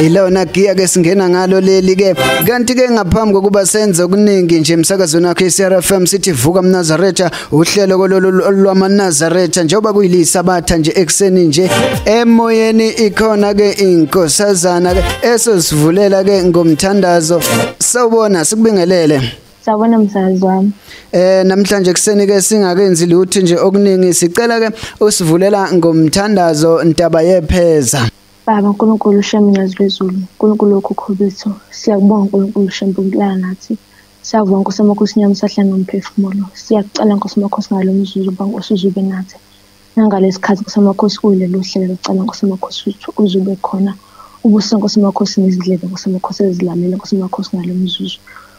ilona giya ke singena ngalo leli ke kanti ke ngaphambi kokuba senze okuningi nje emsakazweni wakhe iCRFM sithi vuka mnazaretha uhlelo kololu lwamanazaretha njengoba kuyilisabatha nje ekseni nje emoyeni ikhona ke inkosazana ke esosivulela ke ngomthandazo sawubona sikubingelele Sawubona msazi wami. Eh namhlanje kuseni ke singakenzi lutho nje okuningi sicela ke usivulela ngomthandazo ntaba yepheza. Baba Nkulunkulu Shembe Nyazi Lwezulu, Nkulunkulu wokhokho bethu, siyakubonga Nkulunkulu Shembe ukulala nathi. Siyakubonga Nkosi Amakhosi Nyama usahlala nomphefumulo. Siyakucela Nkosi Amakhosi ngalo mzuzu uba Nkosi uzube nathi. Nangalesi khathi Nkosi Amakhosi kuleli uhlelo lucela Nkosi Amakhosi ukuthi uzube khona. Ubuse Nkosi Amakhosi nezidlebe Nkosi Amakhosi ezilalele Nkosi Amakhosi ngalo mzuzu.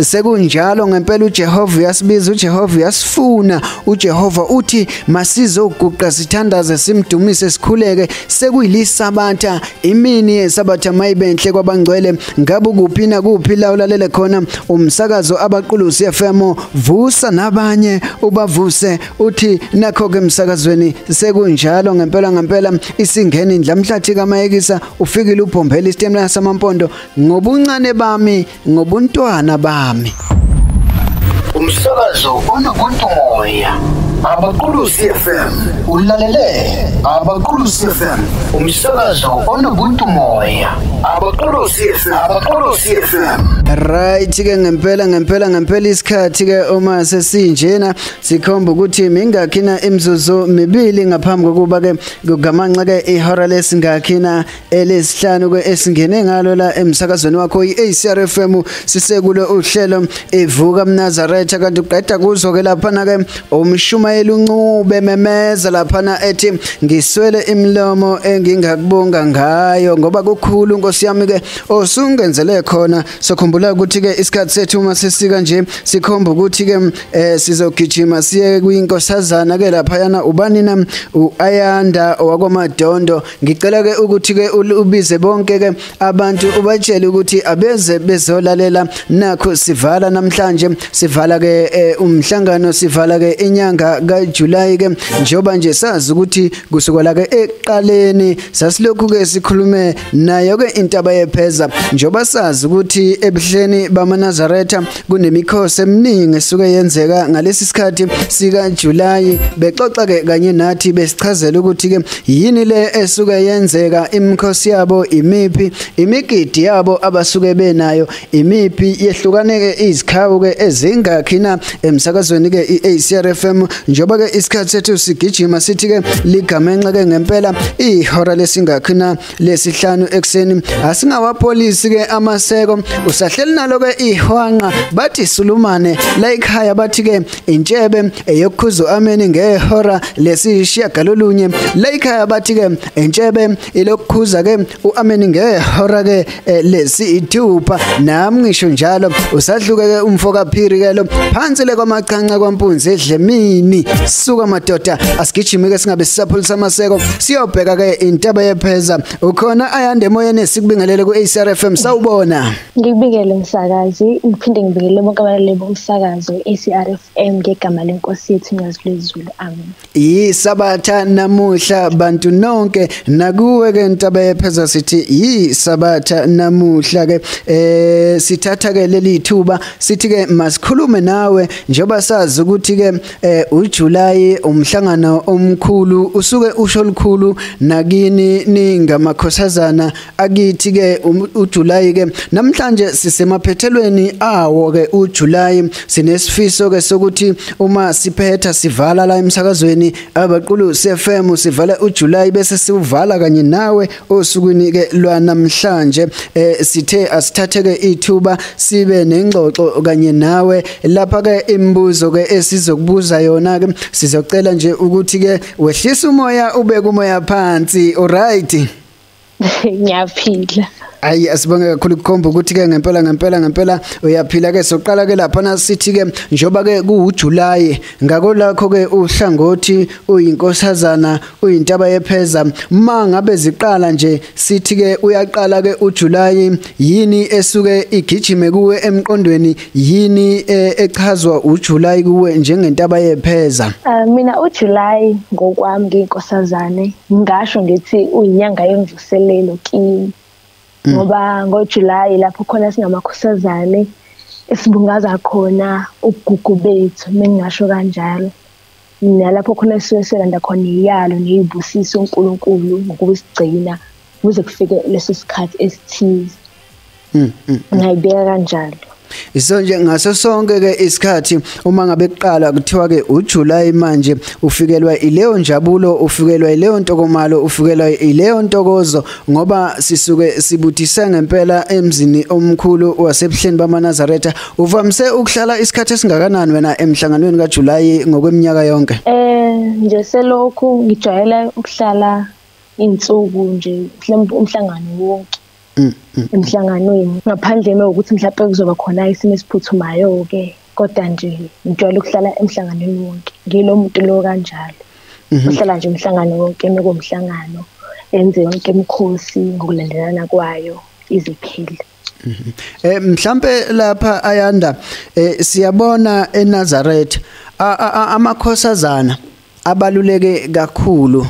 Sekunjalo ngempela uJehova uyasibiza, uJehova uyasifuna, uJehova uthi masizoguqa sithandaze simdumise sikhuleke sekuyilisabata imini yesabatha mayibenhle kwabangcwele ngabe kuphi na kuphi la ulalele khona umsakazo abaqulusi FM vusa nabanye ubavuse uthi nakho ke emsakazweni sekunjalo ngempela ngempela isingeni indlamhlathi kamayekisa ufikile ubhombela istemla samampondo ngobuncane bami ngobuntwana bami umsakazo onobuntu moya abaqulusi fm ulalele abaqulusi fm umsakazo onobuntu moya abaqulusi fm abaqulusi fm right ke ngempela ngempela ngempela isikhathi ke uma sesinjena sikhomba ukuthi mingakhina imizuzu mibili ngaphambi kokuba ke kugamanxa ke ihora lesingakhi na elesihlanu ke esingene ngalo la emsakazweni wakho iACR FM sisekulo uhlelo evuka mnazaretha kanti uqeda kuzo ke lapha na ke umshumayeli uncube memeza lapha na ethi ngiswele imlomo engingakubonga ngayo ngoba kukhulu nkosi yami ke osungenzele khona sokhumbula ukuthi ke isikhathi sethu uma sisika nje sikhomba ukuthi ke eh, sizogijima siye kwinkosazana ke lapha yana ubani na uAyanda owakwaMadondo ngicela ke ukuthi ke ubize bonke ke abantu ubatshele ukuthi abeze bezolalela nakho sivala namhlanje sivala ke eh, umhlangano sivala ke inyanga kaJuly ke njoba nje sazi ukuthi kusukela ke eqaleni sasilokhu ke sikhulume nayo ke intaba yepheza njoba sazi ukuthi ebuhleni bamaNazaretha kunemikhosi eminingi esuke yenzeka ngalesi sikhathi sika July bexoxa ke kanye nathi besichazela ukuthi ke yini le esuke yenzeka imikhosi yabo imiphi imigidi yabo abasuke benayo imiphi yehlukane ke izikhawu ke ezingakhi na emsakazweni ke iACRFM njoba ke isikhathi sethu sigijima sithi ke ligamenxe ke ngempela ihora lesingakhi na lesihlanu ekseni asingawapolisi ke amaseko usahleli nalo ke ihwanqa bathi sulumane la ikhaya bathi ke intshebe eyokukhuza ameni ngehora lesishiya galolunye la ikhaya bathi ke intshebe ilokukhuza ke uameni ngehora ke eh, lesithupha nami ngisho njalo usadluke ke umfo kaphiri ke lo phansi le kwamaqhanqa kwampunzi edlemini suka madoda asigijime ke singabe sisaphulisa amaseko Siyobheka ke intaba yepheza ukhona ayande emoyeni sikubingelele ku ACRFM sawubona Ngikubingele msakazi ngiphinde ngibingele bonke abalaleli bomsakazo ACRFM ngegama lenkosi yethu ngiyazilezulu amen Yisabatha namuhla bantu nonke nakuwe ke intaba yepheza sithi yisabatha namuhla ke eh sithatha ke leli thuba sithi ke masikhulume nawe njoba sazi ukuthi ke eh uJuly umhlangano omkhulu usuke usho likhulu nakini ningamakhosazana akithi ke um, uJuly ke namhlanje sisemaphethelweni awo ke uJuly sinesifiso ke sokuthi uma siphetha sivala la emsakazweni abaqulu CFM sivala uJuly bese siwuvala kanye nawe osukwini ke lwanamhlanje eh, sithe asithatheke ithuba sibe nengxoxo kanye nawe lapha ke imibuzo ke esizokubuza yona ke sizocela nje ukuthi ke wehlisa umoya ube kumoya phansi alright ngiyaphila ayi asibonge kakhulu kukhomba ukuthi ke ngempela ngempela ngempela uyaphila ke soqala ke lapha nasithi ke njoba ke kuwuJuly ngako lakho ke uhlangothi uyinkosazana uyintaba yepheza uma ngabe ziqala nje sithi ke uyaqala ke uJuly yini esuke igijime kuwe emqondweni yini e, echazwa uJuly kuwe njengentaba yepheza ah, mina uJuly ngokwami nginkosazane ngasho ngithi uyinyanga yemvuselelo kimi mm. ngoba ngoJuly lapho khona singamakhosazane esibungaza khona ugugu bethu mengingasho kanjalo nalapho khona sisuke selanda khona iyalo neyibusiso uNkulunkulu ngokusigcina kuze kufike leso sikhathi esithize mm, mm, mm. ngayibeka kanjalo so nje ngaso sonke ke isikhathi uma ngabe kuqala kuthiwa ke uJuly manje ufikelwa ileyo njabulo ufikelwa ileyo ntokomalo ufikelwa ileyo ntokozo ngoba sisuke sibuthise ngempela emzini omkhulu wasebuhleni bamaNazaretha Uvamise ukuhlala isikhathi esingakanani wena emhlanganweni kaJulayi ngokweminyaka yonke? Eh nje selokhu ngijwayela ukuhlala insuku nje mhlawumbe umhlangano wonke. Mm, mm. Emhlanganweni ngaphandle nokuthi mhlawumbe kuzoba khona isimo esiphuthumayo ke kodwa nje ngijwayele ukuhlala emhlanganweni wonke. Ngilo muntu lo kanjalo. Mhm. Uhlala nje umhlangano wonke nokomhlangano enze yonke imikhosi ngokulandelana kwayo iziphile. Mhm. Eh mhlambe lapha ayanda eh siyabona eNazareth amakhosazana abaluleke kakhulu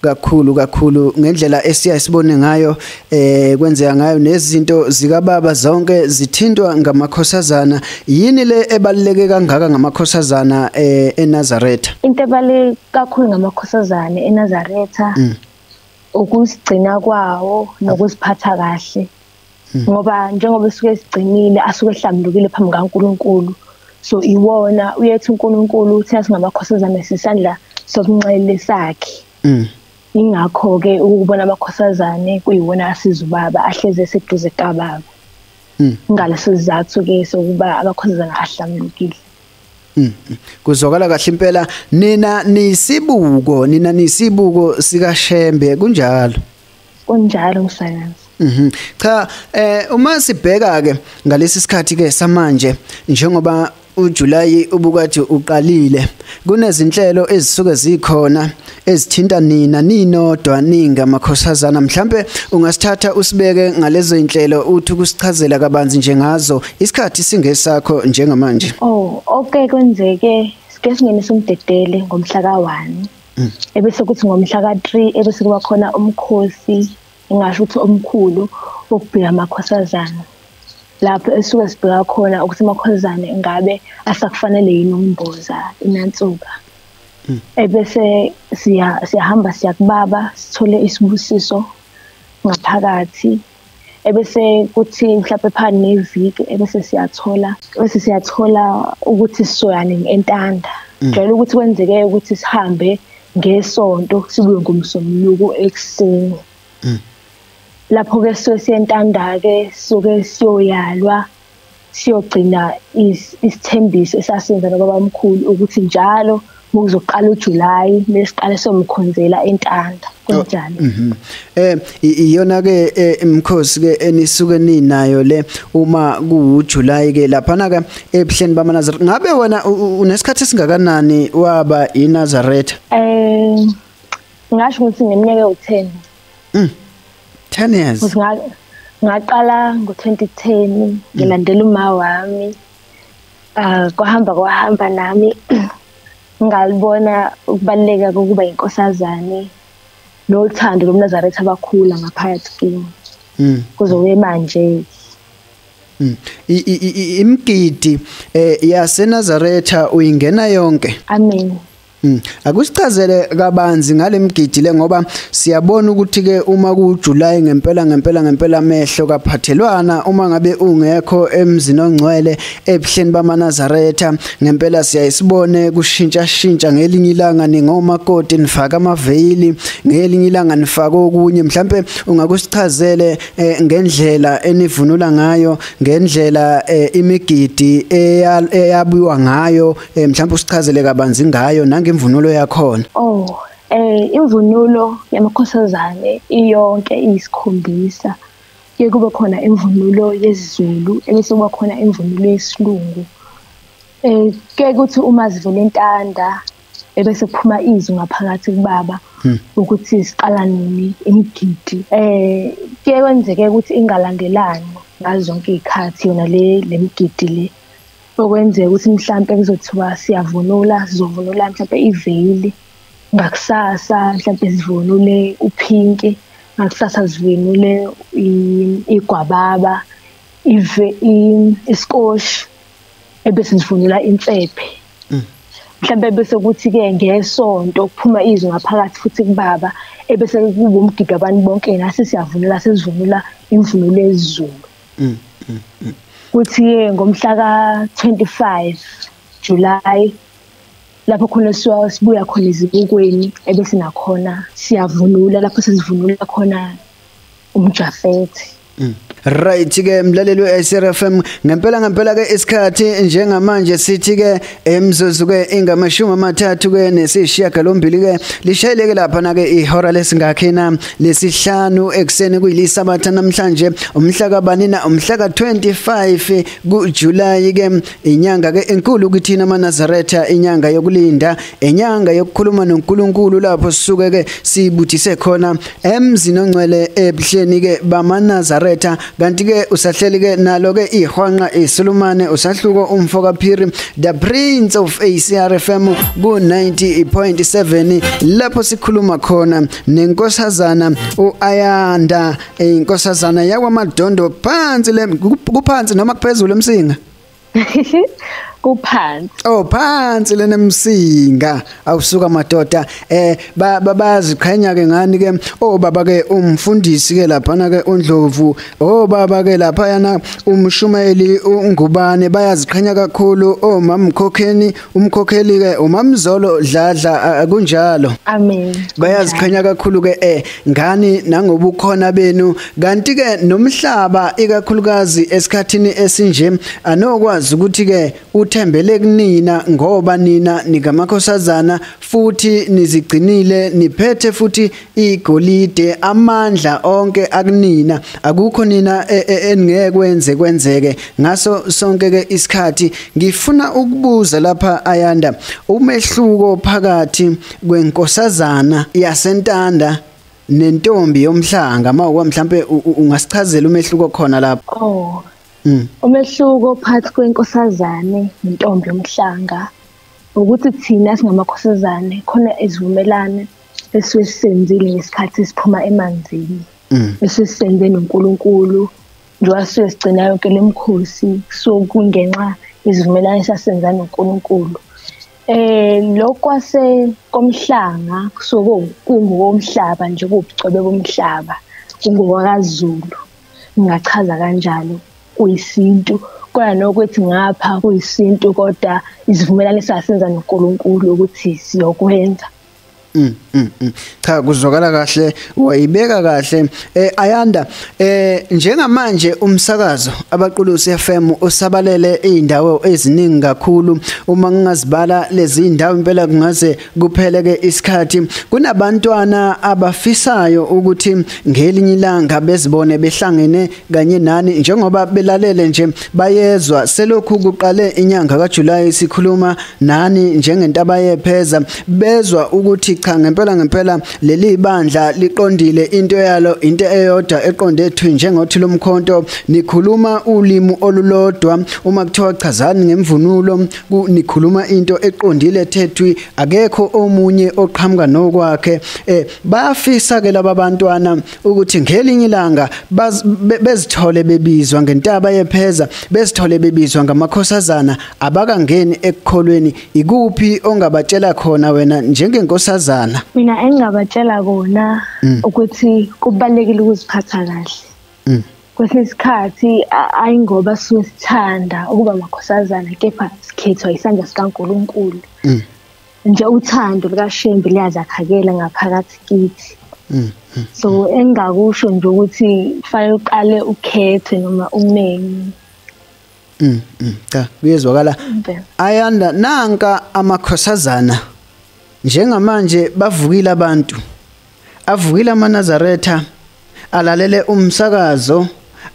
kakhulu kakhulu ngendlela esiya sibone ngayo eh kwenzeka ngayo nezinto zika baba zonke zithintwa ngamakhosazana yini le ebaluleke kangaka ngamakhosazana eh eNazaretha into ebaluleke kakhulu ngamakhosazana eNazaretha mm. ukusigcina kwawo nokuziphatha kahle hmm. ngoba njengoba esuke esigcinile asuke ehlambulukile phambi kaNkuluNkulu so iwona uyethi uNkuluNkulu uthi asingabakhosazana sisandla sokunxele sakhe hmm. ingakho ke ukubona abakhosazane kuyiwona asiza ubaba ahleze eseduze kababa hmm. ngalesizathu ke sokuba abakhosazana ahlambulukile Mm. Kuzwakala kahle impela nina nisibuko nina nisibuko sika Shembe kunjalo. Kunjalo msakazi. Mhm. Cha eh uma sibheka ke ngalesi sikhathi ke samanje njengoba uJuly ubukade uqalile kunezinhlelo ezisuke zikhona ezithinta nina ninodwa ninga makhosazana mhlambe ungasithatha usibeke ngalezo inhlelo uthi kusichazela kabanzi njengazo isikhathi singesakho njengamanje oh okay kwenzeke sike singenisa umdedele ngomhla ka1 mm. ebese kuthi ngomhla ka3 ebese kuba khona umkhosi engasho ukuthi omkhulu wokubheka amakhosazana lapho esuke sibheka khona ukuthi amakhosazana ngabe asakufanele yini ukumboza inansuka hmm. ebese siya siyahamba siyakubaba sithole isibusiso ngaphakathi ebese kuthi mhlawumbe phani neviki ebese siyathola bese siyathola ukuthi sisoyane entanda hmm. jwayele ukuthi kwenzeke ukuthi sihambe ngesonto sibuye ngomsombuluko ekuseni hmm. lapho ke siyoyentanda ke soke siyoyalwa siyogcina isithembiso esasenza nobaba mkhulu ukuthi njalo muzoqala uJuly besiqale somkhonzela entanda kunjalo oh, mhm. eh iyona ke eh, imkhosi ke enisuke ninayo le uma kuwuJuly ke lapha na ke ebuhleni bamanazareth ngabe wena unesikhathi esingakanani waba iNazareth eh ngasho ukuthi ngeminyaka u10 Mm. 10 years. Ngaqala ngo-2010 ngilandela uma wami. Ah kwahamba kwahamba nami ngalibona ukubaluleka kokuba inkosazane nothando lomnazaretha abakhula ngaphakathi kimi. Mm. Kuzowe manje Mm. imgidi eh, yaseNazaretha uyingena yonke amen Hmm. Akusichazele kabanzi ngalemgidi le ngoba siyabona ukuthi ke uma ku July ngempela ngempela ngempela amehlo kaphathelwana uma ngabe ungekho emzini ongcwele ebuhleni bamaNazaretha ngempela siyayisibone kushintsha shintsha ngelinye ilanga ningoma koti nifaka amaveyili ngelinye ilanga nifaka okunye mhlambe ungakusichazele eh, ngendlela enivunula ngayo ngendlela eh, imigidi eyabuwa ngayo Eh mhlawumbe usichazele kabanzi ngayo nangemvunulo yakhona. Oh, eh imvunulo yamakhosazane iyonke iyisikhombisa. Ke kube khona imvunulo yesiZulu, ebese kuba khona imvunulo yesilungu. Eh ke kuthi uma zivele intanda ebese kuphuma izwi ngaphakathi kubaba hmm. ukuthi siqala nini imigidi eh ke kwenzeke ukuthi ingalandelani ngazo zonke izikhathi yona le lemigidi le okwenzeka ukuthi mhlampe kuzothiwa siyavunula sizovunula mhlampe iveyili ngakusasa mhlampe sivunule uphinki ngakusasa sivunule igwababa ive iskoshi ebese sivunula insephe mm. mhlambe bese kuthi ke ngesonto kuphuma izwi ngaphakathi futhi kubaba ebese kuwumgido abantu bonke nasi siyavunula sizivunula imvunulo ezulu mm, mm, mm. kuthi ye ngomhla ka 25 July lapho khona siwa sibuya khona izibukweni ebese nakhona siyavunula lapho sizivunula khona umjafethi mm. Right ke mlaleli weSRFM ngempela ngempela ke isikhathi njengamanje sithi ke emzuzu-ke ingamashumi amathathu-ke nesishiyagalombili-ke lishayeleke laphana-ke ihora lesingakhina lesihlanu ekuseni kuyilisabata namhlanje umhlakabanina umhlaka-25 kujulayi-ke inyanga-ke enkulu kithina amanazaretha inyanga yokulinda inyanga yokukhuluma nonkulunkulu lapho sisuke-ke sibuthise khona emzini ongcwele ebuhleni-ke bamanazaretha kanti ke usahleli ke nalo ke ihwanqa isulumane usahluko umfo kaphiri the prince of ACRFM ku 90.7 lapho sikhuluma khona nenkosazana uAyanda inkosazana yakwamadondo phansi le kuphansi noma kuphezulu emsinga kuphansi oh phansi lena msinga awusuka madoda eh babaziqhenya ke ngani ke oh baba ke umfundisi ke lapha na ke undlovu oh baba ke lapha yana umshumayeli ungubane bayaziqhenya kakhulu oh mamkhokheni umkhokheli ke umamzolo dladla kunjalo amen bayaziqhenya kakhulu ke eh ngani nangobukhona benu kanti ke nomhlaba ikakhulukazi esikhathini esinje anokwazi ukuthi ke uthembele kunina ngoba nina nikamakhosazana futhi nizigcinile niphethe futhi igolide amandla onke akunina akukho nina e, e, eningeke kwenze kwenzeke ngaso sonke ke isikhathi ngifuna ukubuza lapha ayanda umehluko phakathi kwenkosazana yasentanda nentombi yomhlanga mawuka mhlambe ungasichazela umehluko khona lapho oh mm. umehluko phakathi kwenkosazane nentombi yomhlanga ukuthi thina singamakhosazane khona izivumelane esuke sisenzile ngesikhathi siphuma emanzini mm. esuke sisenze noNkulunkulu njengoba sisuke sigcina yonke lemkhosi so kungenxa izivumelane sasenza noNkulunkulu eh lokwase komhlanga kusuke kungokomhlaba nje kubucobe bomhlaba kungowakaZulu ngingachaza kanjalo kuyisintu kona nokuthi ngapha kuyisintu kodwa isivumelwano esasenza noNkulunkulu ukuthi siyokwenza Mm, mm, mm. cha kuzwakala kahle wayibeka kahle eh ayanda eh njengamanje umsakazo abaqulusi FM usabalele izindawo eziningi kakhulu uma ngingazibala lezi zindawo impela kungaze kupheleke isikhathi kunabantwana abafisayo ukuthi ngelinye ilanga bezibone behlangene kanye nani njengoba belalele nje bayezwa selokhu kuqale inyanga kaJuly sikhuluma nani njengentaba yepheza bezwa ukuthi cha ngempela ngempela leli bandla liqondile into yalo into eyodwa eqonde ethu njengothi lomkhonto nikhuluma ulimi olulodwa uma kuthiwa chazani ngemvunulo nikhuluma into eqondile thethwi akekho omunye oqhamuka nokwakhe eh bafisa ke laba bantwana ukuthi ngelinye ilanga bezithole bebizwa ngentaba yepheza besithole bebizwa ngamakhosazana abakangeni ekukholweni ikuphi ongabatshela khona wena njengenkosazana mina engingabatshela kona mm. ukuthi kubalekile ukuziphatha kahle mm. kwesinye isikhathi ayi ngoba sisuke sithanda ukuba amakhosazana kepha sikhethwa isandla sikaNkuluNkulu mm. nje uthando lukaShembe liyazakhakela ngaphakathi kithi mm, mm, so mm. engingakusho nje ukuthi kufanele uqale ukhethe noma umneni Mm, mm cha kuyezwakala ayanda nanka amakhosazana njengamanje bavukile abantu Avukile amaNazaretha alalele umsakazo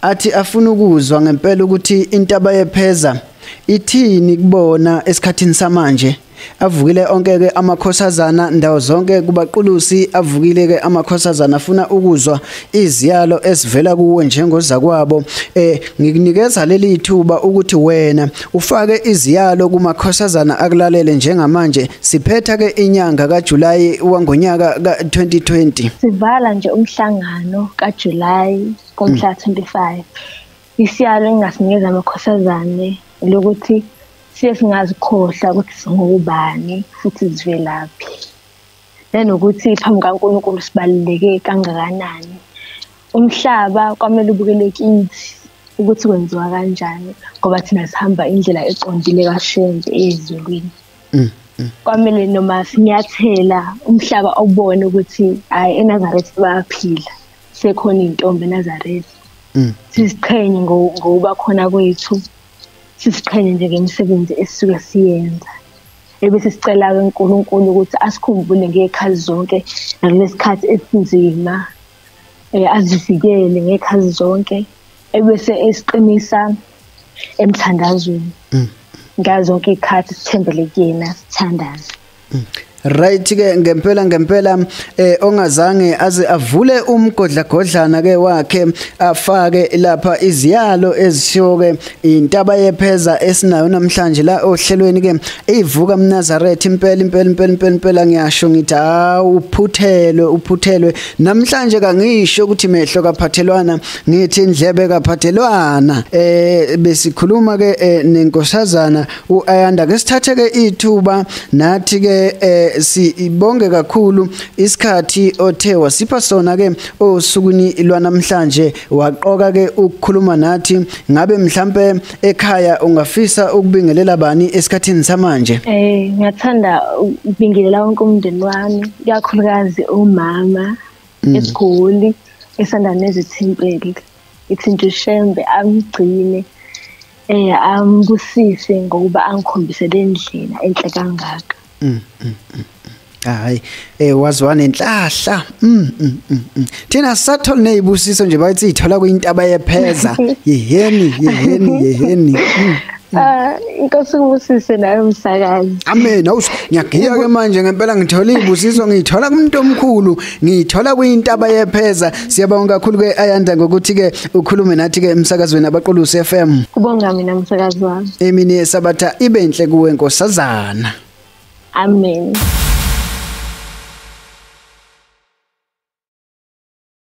athi afuna ukuzwa ngempela ukuthi intaba yepheza ithini kubona esikhathini samanje avukile onke ke amakhosazana ndawo zonke kubaqulusi avukile ke amakhosazana afuna ukuzwa iziyalo esivela kuwe njengozakwabo eh ngikunikeza leli thuba ukuthi wena ufake iziyalo kumakhosazana akulalele njengamanje siphetha ke inyanga kaJuly wangonyaka ka2020 sivala nje umhlangano kaJuly komhla 25 isiyalo engasinikeza amakhosazane lokuthi siye singazikhohla ukuthi singubani futhi sivelaphi nanokuthi phambi kaNkulunkulu sibaluleke kangakanani umhlaba kwamele ubukele kithi ukuthi kwenziwa kanjani ngoba thina sihamba indlela eqondile kashembe ezulwini mm, mm. kwamele noma sinyathela umhlaba obone ukuthi hayi eNazareth bayaphila sekhona intombi eNazareth mm. siziqhenye ngokuba khona kwethu siziqhenye nje ngemisebenzi esisuke siyenza ebesisicela-ke uNkulunkulu ukuthi asikhumbule ngey'khathi zonke nakulesikhathi esinzima um azivikele ngey'khathi zonke ebese esiqinisa emthandazweni mm. ngazo zonke iy'khathi sithembele kuyena sithandaze mm. Right ke ngempela ngempela eh ongazange aze avule umgodlagodlana ke wakhe afake lapha iziyalo ezishoke intaba yepheza esinayo namhlanje la ohlelweni ke ivuka mnazaretha impela impela impela impela impela ngiyasho ngithi ha uphuthelwe uphuthelwe namhlanje kangisho ukuthi mehlo kaphathelwana ngithi indlebe kaphathelwana eh besikhuluma ke eh, nenkosazana uAyanda ke sithathe ke ithuba nathi ke eh, sibonge kakhulu isikhathi othe wasipha sona ke osukwini lwanamhlanje waqoka ke ukukhuluma nathi Ngabe mhlambe ekhaya ungafisa ukubingelela bani esikhathini samanje? Eh, ngiyathanda ukubingelela wonke umndeni wami, ikakhulukazi umama mm. esigoli esanda nezithimpeli. Ithinta uShembe amgcine eh ambusise ngokuba angikhombise lendlela enhle kangaka. mm, mm, mm. hayi eh wazwa nenhlahla mm, mm, mm, mm. thina sathole nezibusiso nje bathi ithola kuyintaba yepheza yeheni yeheni yeheni mm. Ah inkosi kubusise nayo msakazi. Amen. Awus ngiyagiya ke manje ngempela ngithola izibusiso ngithola kumuntu omkhulu ngiyithola kuyintaba yepheza siyabonga kakhulu ke ayanda ngokuthi ke ukhulume nathi ke emsakazweni abaqulusi FM kubonga mina msakazi wami emini yesabatha ibe inhle kuwe nkosazana amen